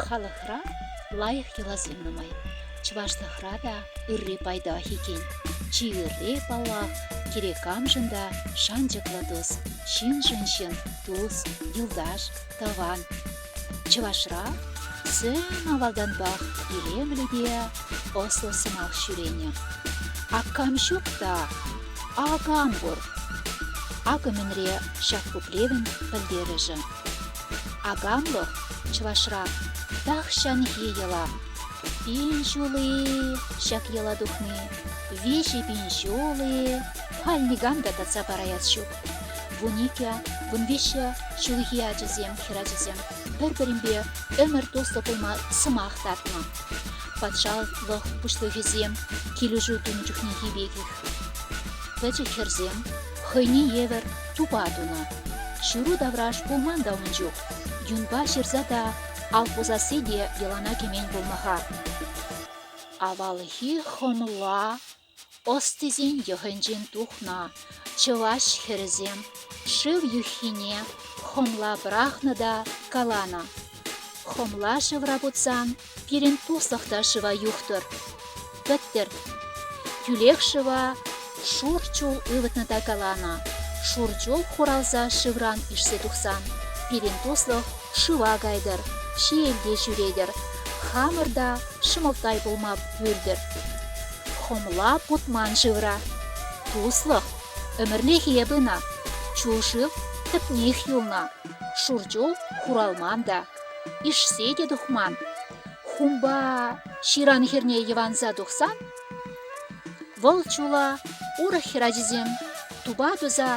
Халӑхра лайӑх йӑласем нумай. Чӑвашлӑхра та ырри пайтах иккен. Чи ырри, паллах, кирек камшӑн та шанчӑклӑ тус, ҫыншӑн ҫын, тус, юлташ, тӑван, Чӑвашра сцена авалтанпах илемлӗ те ӑслӑ сӑмах ҫӳренӗ. Аккам ҫук та акам пур. Акӑ мӗнре ҫак пуплевӗн пӗлтерӗшӗ. Акамлӑх чӑвашра тахҫанхи йӑла. Пин ҫул-и ҫак йӑла тухни, виҫӗ пин ҫул-и халь никам та татса параяс ҫук. Вун икӗ, вун виҫҫӗ ҫулхи ачасем, хӗрачасем пӗр-пӗринпе ӗмӗр туслӑ пулма сӑмах татнӑ. Патшалӑх пуҫлӑхӗсем килӗшӳ тунӑ чухнехи пекех. Пӗчӗк хӗрсем хӑйне евӗр тупа тунӑ. Ҫыру тавраш пулман та ун чух. Юнпа ҫырса та, ал пусасси те йӑлана кӗмен пулмаха. Авалхи хӑмла Ӑстисен йӑхӗнчен тухнӑ чӑваш хӗрӗсем шыв юххине хӑмла пӑрахнӑ та каланӑ: «Хӑмла шывра путсан пирӗн туслӑх та шыва юхтӑр. Пӗттӗр!» Тӳлек шыва шур чул ывӑтнӑ та каланӑ: «Шур чул хуралса шывран ишсе тухсан пирӗн туслӑх шыва кайтӑр, ҫиелте ҫӳретӗр, хамӑр та ҫӑмӑлттай пулма пӳртӗр». Хӑмла путман шывра. Туслӑх, ӗмӗрлӗхе пынӑ. Чул шыв тӗпнех юлнӑ. Шур чул хуралман та, ишсе те тухман. Хумпа ҫыран хӗрне йӑванса тухсан, вӑл чула урӑх хӗрачисем тупа туса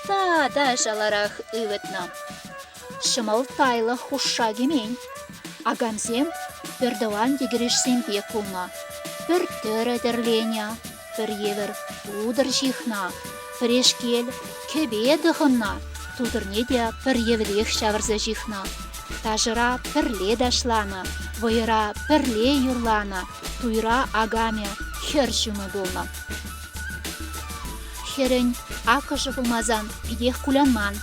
та та шаларах ывӑтнӑ. ҫӑмӑлттайлӑх хушша кӗмен. Акамсем пӗртӑван йӗкӗрешсемпе кулнӑ. Пӗр тӗрӗ тӗрленӗ, пӗр евӗр тутӑр ҫыхнӑ, пӗрешкел кӗпе тӑхӑннӑ, тутӑрне те пӗр евӗрех ҫавӑрса ҫыхнӑ. Ташӑра пӗрле ташланӑ, вӑйӑра пӗрле юрланӑ, туйра акамӗ хӗр ҫумӗ пулнӑ. Хӗрӗн акӑшӗ пулмасан питех кулянман.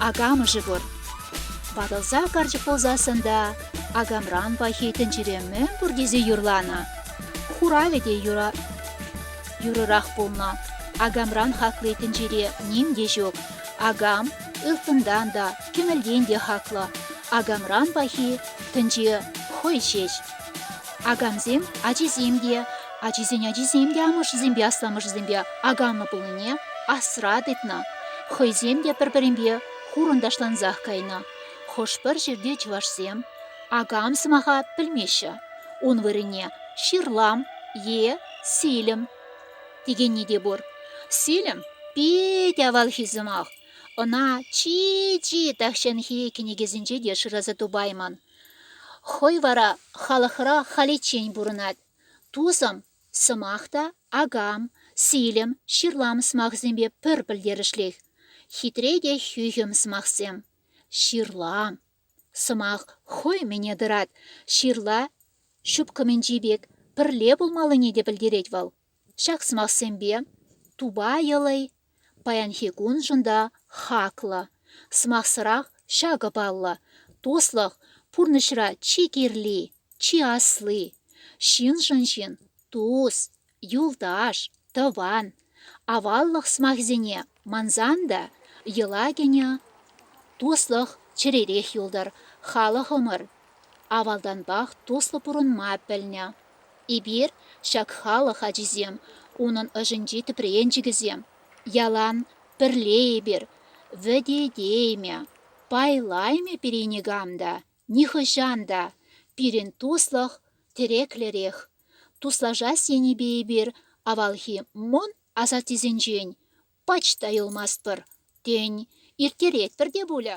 Акамӑшӗ пур. Ватӑлса карчӑк пулсассӑн та акамран пахи тӗнчере мӗн пур тесе юрланӑ. Хуравӗ те юрӑ юрӑрах пулнӑ. Акамран хакли тӗнчере ним те ҫук. Акам ылтӑнтан та, кӗмӗлтен те хаклӑ. Акамран пахи тӗнче хӑй ҫеҫ. Акамсем ачисем те, ачисен ачисем те амӑшӗсемпе асламӑшӗсемпе аканлӑ пулнине асра тытнӑ. Хӑйсем те пӗр-пӗринпе хурӑнташлансах кайнӑ. Хӑш-пӗр ҫӗрте чӑвашсем акам сӑмаха пӗлмеҫҫӗ. Ун вырӑнне ҫырлам е силӗм текенни те пур. Силӗм питӗ авалхи сӑмах. Ӑна чи-чи тахҫанхи кӗнекесенче те шыраса тупаймӑн. Хӑй вара халӑхра халиччен пурӑнать. Тусӑм, сӑмах та акам, силӗм, ҫырлам сӑмахӗсемпе пӗр пӗлтерӗшлех. Хитре те хӳхӗм сӑмахсем. Ҫырлам. Сӑмах хӑй мӗне тӑрать. Ҫырла ҫупкӑмӗнчи пек пӗрле пулмаллине те пӗлтерет вӑл. Ҫак сӑмахсемпе тупайӑлӑй паянхи куншӑн та хаклӑ. Сӑмахсӑрах ҫакӑ паллӑ, туслӑх пурнӑҫра чи кирли, чи асли. Ҫыншӑн ҫын тус, юлташ, тӑван. Аваллӑх сӑмахӗсене Мансан та йӑла кӗнӗ туслӑх чӗререх юлтӑр, халӑхӑмӑр авалтанпах туслӑ пурӑнма пӗлнӗ. Эпир, ҫак халӑх ачисем, унӑн ӑшӗнчи тӗпренчӗкӗсем. Ялан пӗрле эпир, вӗтетеймӗ, пайлаймӗ пире никам та, нихӑҫан та. Пирӗн туслӑх тӗреклӗрех. Туслашас енӗпе эпир авалхи мӑн Асаттесенчен пач та юлмастпӑр, тен, ирттеретпӗр те пулӗ.